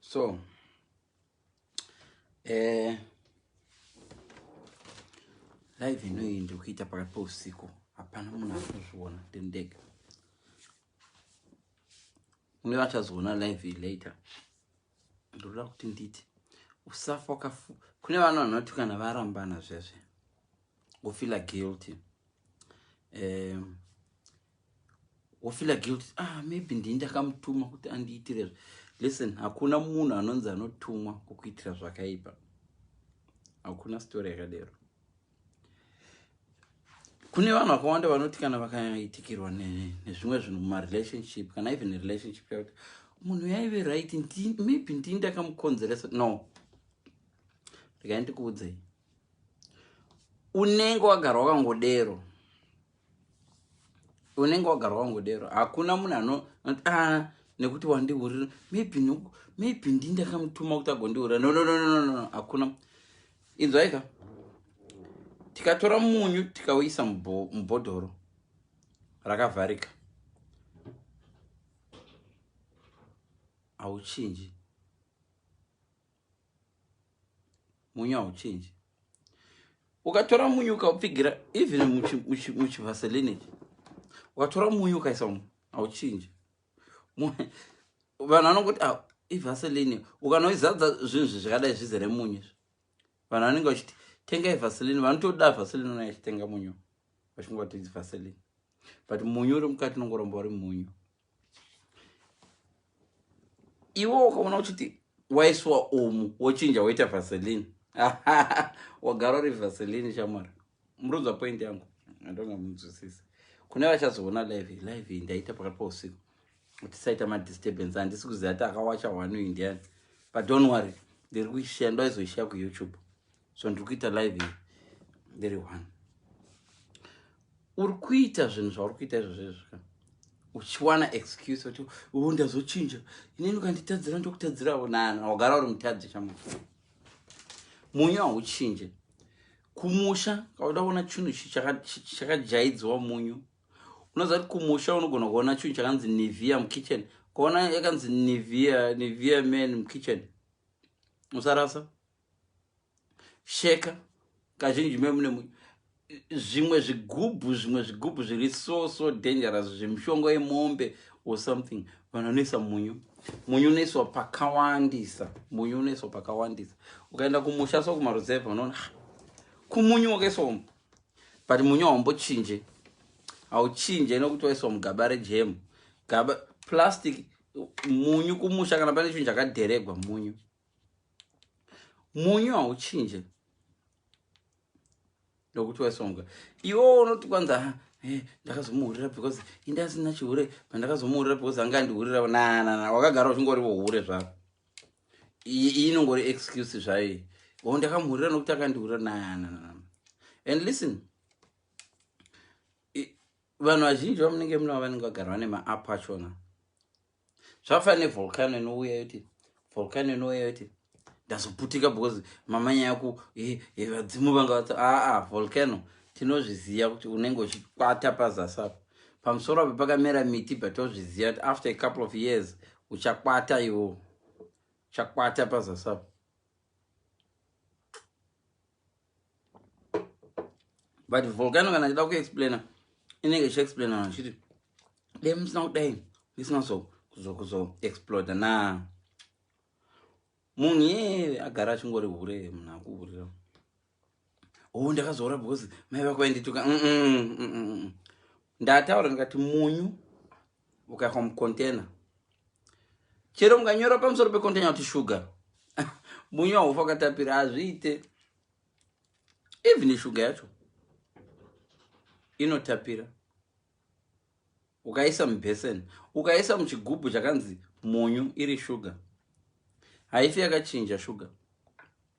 so eh, live inoyi ndikuita pakati pousiku hapana munhu akuzviona ndendega uye vachazoona live later ndoda kuti nditi usafa wakafu kune vanhu vanoti kana varambana zvesve wofila guilty um, wofila guilty ah maybe ndii ndakamutuma kuti andiitirezve listen hakuna munhu anonzi anotumwa kukuitira zvakaipa hakuna story yakadero kune vanhu vakawanda vanoti kana vakaitikirwa nezvimwe zvinhu mumarelationship kana even relationship yakuti munhu yaive right maybe ndii ndakamukonzeresa no rekai ndikuudzei unenge wagara wakangodero unenge wagara wangodero hakuna munhu ano ah, nekuti wandiurira maybe noku maybe ndi ndakamutuma kuti agondiurira no no no no no hakuna inzwaika tikatora munyu tikauisa mubhodhoro rakavharika hauchinji munyu hauchinji ukatora munyu ukaupfigira even muchivaseline ichi ukatora munyu ukaisa mu hauchinji vanhu vanokuti ah, ivaseline ukanoizadza zvinhu zvi zvakadai zvizere munyu izvi vanhu vanenge vachiti tenga ivaseline vanotoda vaseline unai achitenga munyu vachingoti ivaseline but munyu uri mukati unongoromba uri munyu iwo ukaona uchiti waiswa umu wochinja woita vaseline wagara uri vaseline shamwari murudzwa point yangu andonga munzwisisi kune vachazoona live live iyi ndaita pakati pausiku tisaita madisturbance handisi kuziva ti akawacha hwanu indiani but don't worry ndiri kuishiya ndoaizoishiya kuyoutube so ndiri kuita live iyi ndiri one uri kuita zvinhu zvauri kuita izvo zvezvika uchiwana excuse kuti u ndazochinja inini ukanditadzira ndokutadzirawo nani wagara uri mutadzi chamufu munyu hauchinje kumusha kauda kuona chinhu chakajaidziwa munyu unoziva kuti kumusha unogona kuona chinhu chakanzi nevia mukitchen ukaona yakanzi nevia nevia man mukitchen usarasa sheka kazhinji memune zvimwe zvigubhu zvimwe zvigubhu zviri so so dangerous zvemishonga yemombe or something vanhu vanoisa munyu munyu unoiswa pakawandisa munyu unoiswa pakawandisa ukaenda kumusha so kumaruzevha unoona ah, kumunyu wakaiswa umu but munyu haumbochinje hauchinje nokuti waiswa mugaba rejemu gaba plastic munyu kumusha kana pane chinhu chakadheregwa munyu munyu hauchinje ndokuti waisonga iwo unoti kwanza ah, eh, ndakazomuhurira because indi asina chihure pandakazomuhurira because anga andihurira nanana wakagara uchingorivo hure zvako iyi inongori excuse zvayo o oh, ndakamuhurira nokuti akandihurira nanana and listen vanhu vazhinji vamunenge munavo vanenge vagara vane maapp achona zvafana nevolcano inouya yoti volcano inouya yoti ndazoputika because mama nyaya ku vadzimu vanga vati aa volcano tinozviziva kuti unenge uchikwata pazasi apo pamusoro apo pakamera miti but tozviziva kuti after a couple of years uchakwata iwo uchakwata pazasi apo but volcano kana achida kuexplaina inenge ichiexplaina vachiti dai musina kudai ndisina kuzoexploda na munhu yee agara achingori hure munhu akuhurira o oh, ndakazoora because mai vako vaindituka ndataura ndikati munyu ukaiswa mucontainer chero mukanyora pamusoro pecontainer kuti shuga munyu haufa ukatapira hazviite even shuga yacho inotapira ukaisa mubheseni ukaisa muchigubhu chakanzi munyu iri shuga haifi yakachinja shuga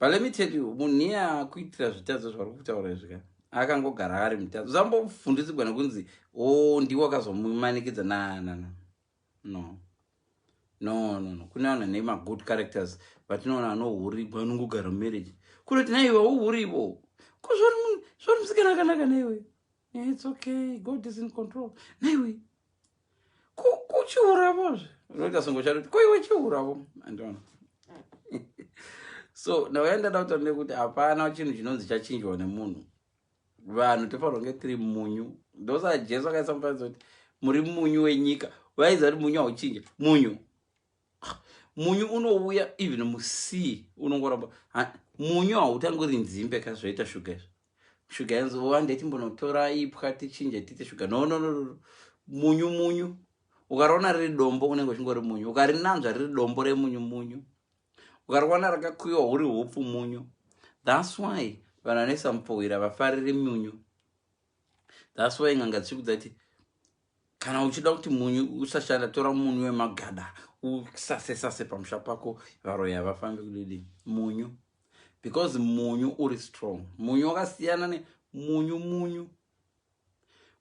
Balimited munhu iye akuitira zvitadzo zvauri kutaura izvi ka akangogara ari mutadzo zambovhundutsirwa nekunzi o oh, ndiwo akazomumanikidza nanana no no no no kune vanhu vane magood characters vatinoona anohurigwa anongogara mumarriage kunoti naiwe uhurivo ko zvauri munhu zvauri musikana akanaka naiwe yeah, it's okay god is in control naiwe kuchiuravo zve unoita songo chatoti ko iwe chiuravo andiona so ndauya ndada kutaura nekuti hapana chinhu chinonzi chachinjwa nemunhu vanhu tofanirwa kunge tiri munyu ndosaa jesu akaisa mufananidzo kuti muri munyu wenyika vaiziva kuti munyu hauchinja munyu munyu unouya even musea unongoramba munyu hautangi uri nzimbe ka zvoita shuga izvo shuga yanzova ndechimbonotora ipwa tichinje tiite shuga no no no munyu munyu ukariona riri dombo unenge uchingori munyu ukarinanzva riri dombo remunyu munyu ukariona rakakuyiwa huri hupfu munyu thats why vanhu vanoisa mupowira vafariri munyu thats why nganga dzichikudza ti kana uchida kuti munyu usashanda tora munyu wemagada usase sase pamusha pako varoyi havafambi kudidi munyu because munyu uri strong munyu wakasiyana ne munyu munyu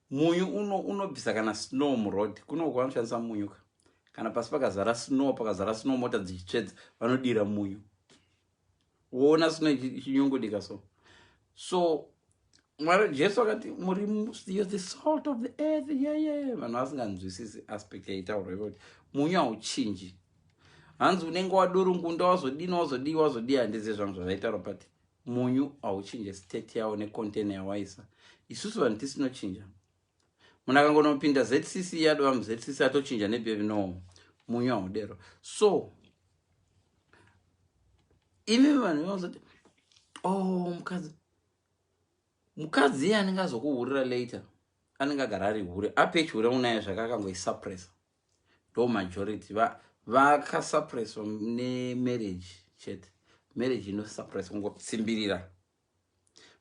munyu uno unobvisa kana snow muroad kunoku vanoshandisa munyu ka kana pasi pakazara snow pakazara snow mota dzichitsvedza vanodira munyu woona sina chinyongodika so so mwari jesu akati muri the salt of the earth yeye vanhu vasinganzwisisi aspect yaitaurwa ivo kuti munyu hauchinji hanzi unenge wadurungunda wazodini wazodii wazodii handizive zvangu zvazvaitaurwa but munyu hauchinje state yawo necontainer yawaisa isusu vanhu tisinochinja Munhu akangonopinda ZCC yadova muZCC atochinja nebevi no munyu haudero. So imi vanhu vanozoti oh mukadzi mukadzi iye anenge azokuhurira later anenge agara ari hure apechure unaye zvake akangoisuppressa ndo majority vakasuppresswa nemarriage chete marriage inosuppressa kungosimbirira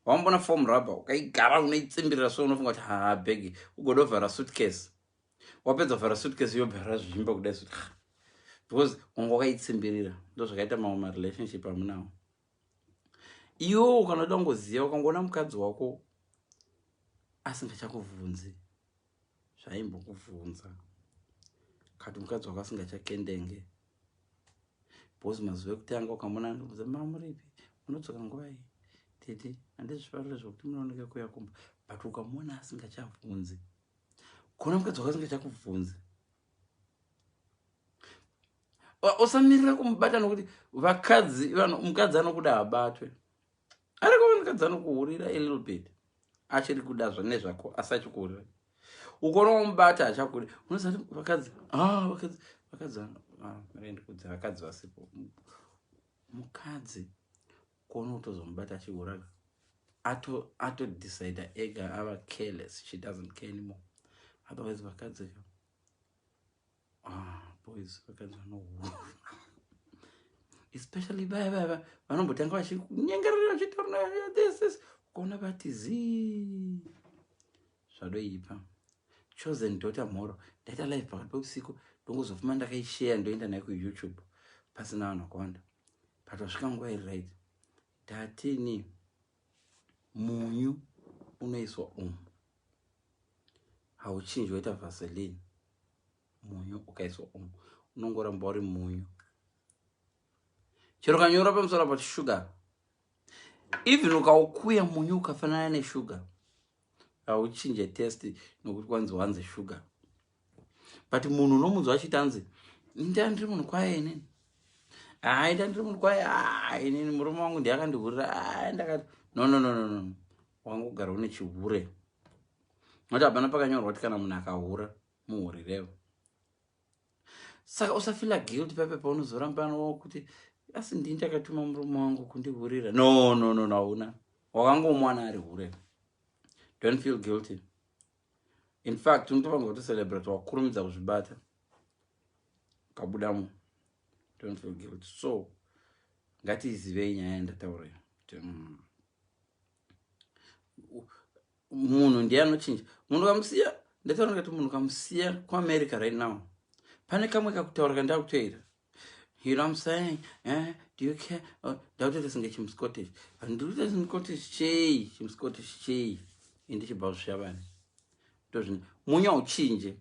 wambona form rubber ukaigara unoitsimbirira so unofunga kuti haa bhegi ugoda kuvhara suitcase wapedza kuvhara suitcase yobhara zvimba kudai suti because wanga wakaitsimbirira ndozvakaita mamwe marelationship amunawo iwo ukanoda kungoziva ukangoona mukadzi wako asingachakubvunzi zvaimbokuvhunza kati mukadzi wako asingachakendenge bcause mazuva ekutanga ukamona ndikuza mamuripi munodzoka nguvai tete andizvifarira zvekuti munooneka kuya kumba but ukamona asingachavhunzi kuona mukadzi wako asingachakuvhunzi usamirira kumubata nokuti vakadzi mukadzi anokuda habatwe ariko vanhu kadzi anokuhurira a little bit achiri kuda zvane zvako asi achikuhurira ukona wamubata achakuri unoziva kuti vakadzi ah, vakadzi vakadzi ah, vaendi kudzi vakadzi vasipo mukadzi kuona kutozomubata achihuraka atodecide ato ega ava careless she doesn't care anymore otherwise vakadzi ka Ah, boys vakadzi vanohura especially vaya vaya vanombotanga vachinyengerera vachitaura this this ukaona vati zii zvadoipa chosen daughter mhoro ndaita live pakati peusiku ndongozofuma ndakaisheya ndoenda nayo kuyoutube pasina vanhu vakawanda but vasvika nguva iri right tatini munyu unoiswa umu hauchinji waita vaseline munyu ukaiswa umu unongoramba uri munyu chero kanyora pamusoro pati shuga even ukaukuya munyu ukafanana neshuga hauchinje test nokuti kwanzi wanzi shuga but munhu unomunzwa achiti anzi ndani ndiri munhu kwaye inini haa ita ndiri munhu kwaye haa inini murume wangu ndiye akandihurira haa ndakati no no no no no wangogara une chihure nokuti hapana pakanyorwa kuti kana munhu akahura muhurirevo saka usafila guilt pepe paunozorambanawo kuti asi ndii ndakatuma murume wangu kundihurira no no no no hauna wakangomwana ari hure don't feel guilty in fact unotofanirwa kutocelebrate wakurumidza kuzvibata ukabudamo don't feel guilt so ngatizivei nyaya yandataura mm. munhu ndiye anochinja munhu kamusiya ndataura ngati munhu kamusiya kuamerica right now pane kamwe kakutaura kandakutoita You know what I'm saying? Eh? Do you care? Oh, daughter doesn't get him Scottish. And do this in Scottish chey, him Scottish chey. In the Chibao Shaban. Doesn't. Munya uchinje.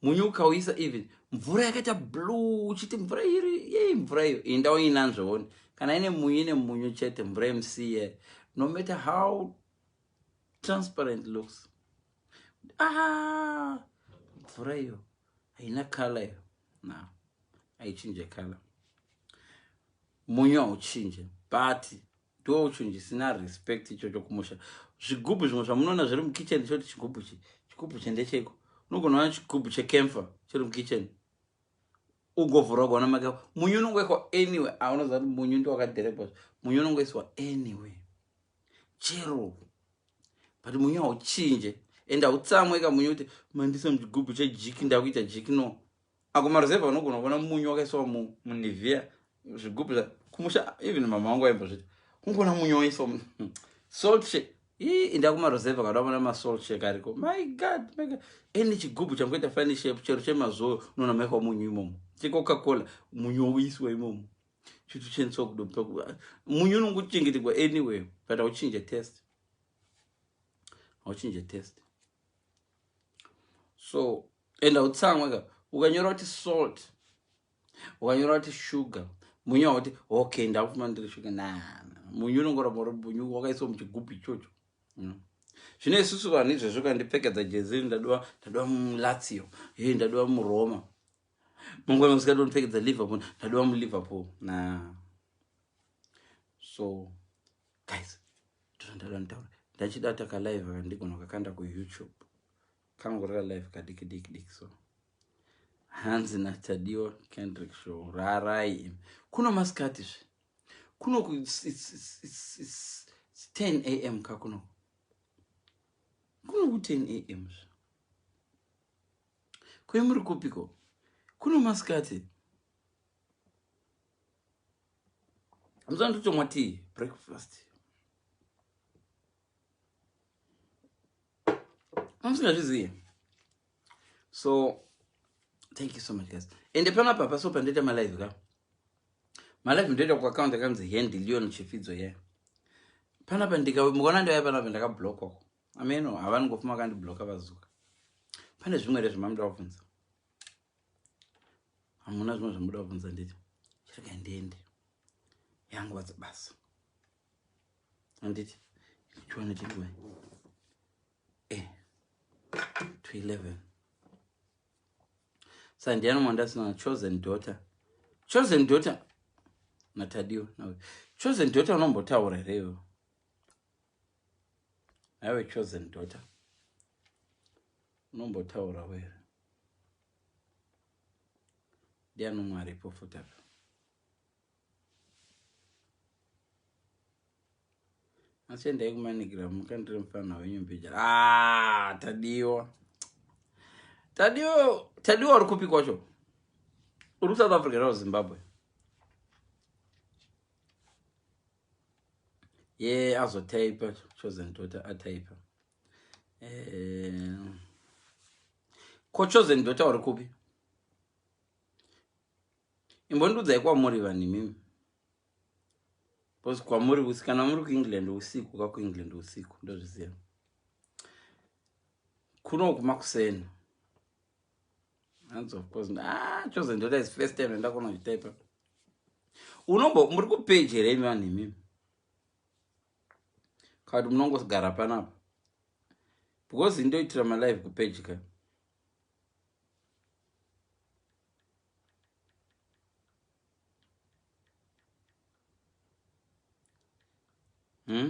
Munyu ukawisa even. Mvura yakata blue. Chiti mvura iri. Yey, mvura iri. Inda wa inanzo honi. Kana ine munyu ine munyu chete. Mvura msiye. No matter how transparent looks. ah mvura iyo haina kala iyo na haichinje kala munyu hauchinje but ndo chinhu chisina respect ichocho kumusha zvigubhu zvimwe zvamunoona zviri mukitchen choti chigubhu chi chigubhu chendecheiko unogona ona chigubhu chekemfa chiri mukitchen ugovhura ugaona make munyu unongoiswa anyway aunoziva kuti munyu ndiwakadherebwa munyu unongoiswa anyway chero but munyu hauchinje and hautsamwe ka munyu kuti mandisa muchigubhu chejiki ndakuita jiki no ako maruzevha unogona kuona munyu wakaiswa munivia zvigubhu zva kumusha even mama wangu aimbozvita kungona munyu waiswa salt shake ii inda kumaruzevha kada vona masalt shake ariko my god my god any chigubhu changoita fani shape chero chemazoyo unoona maikwa munyu imomo checoca cola munyu woiswa imomo Chitu chenso kudo pakuva. Munyu unonguchengetegwa anyway. But I'll change a test. I'll change a test. So, and I'll tell you, you can use the salt. You can use the sugar. Munyu hoti, okay, and I'll find the sugar. Nah, munyu unongora moro munyu wakaiso mchigupi chocho. You know. Zvine isusu vanhu izvezvo kandipfekedza jezi ndadowa ndadowa mulatio. Hey, ndadowa muroma. mangwana kusika ndonopfekedza liverpool ndadova muliverpool na so guys ndozvandaida nditaura ndachida takalive kandigona kakanda kuyoutube kangu raka live kadiki diki diki so hanzi natadiwa kendrick show rarai im kuno masikati zve kuno ten a m ka kuno kuno ku ten a m zve Kwe muri kupiko? Kuno masikati. Muzandotomwa tea breakfast. Amusingazviziye. So thank you so much guys. Ende pano apa paso pandoita ma live ka. Ma live ndoita ku account yakanzi Handy Leon Chifidzo ye. Yeah. Pano apa ndika mukaona ndaya pano apa ndakablock wako. Ameno havani ngofa makandibloka vazuka. Pane zvimwe here zvimamuda kubvunza? Hamuna zvimwe zvamuda kubvunza nditi. Chirega ndiende. Yangu vatsa basa. Anditi chiwane chiriwe. Eh. To 11. Sandiano Mwandasina chosen daughter. Chosen daughter na Tadio. Chosen daughter unombotaura here iwe? Have a chosen daughter. Unombotaura where? Ndiani umwe aripo futi apa? Asi endai kumanigira mukandire mufana wenyu mbijara. Ah, tadiwa. Tadiwa, tadiwa uri kupi kwacho? Uri South Africa or Zimbabwe? ye yeah, azotaipa chosen daughter ataipa eh, ko chosen daughter uri kupi imbondiudzai kwamuri vanhu imimi bcause kwamuri usi kana muri kuengland usiku ka kuengland usiku ndozviziva kuno kumakuseni hanzi of course ah chosen daughter is first time ndakona kuchitaipa unombo muri kupeji here imi vanhu imimi kati munongogara panapa because indoitira malive kupeji ka hmm?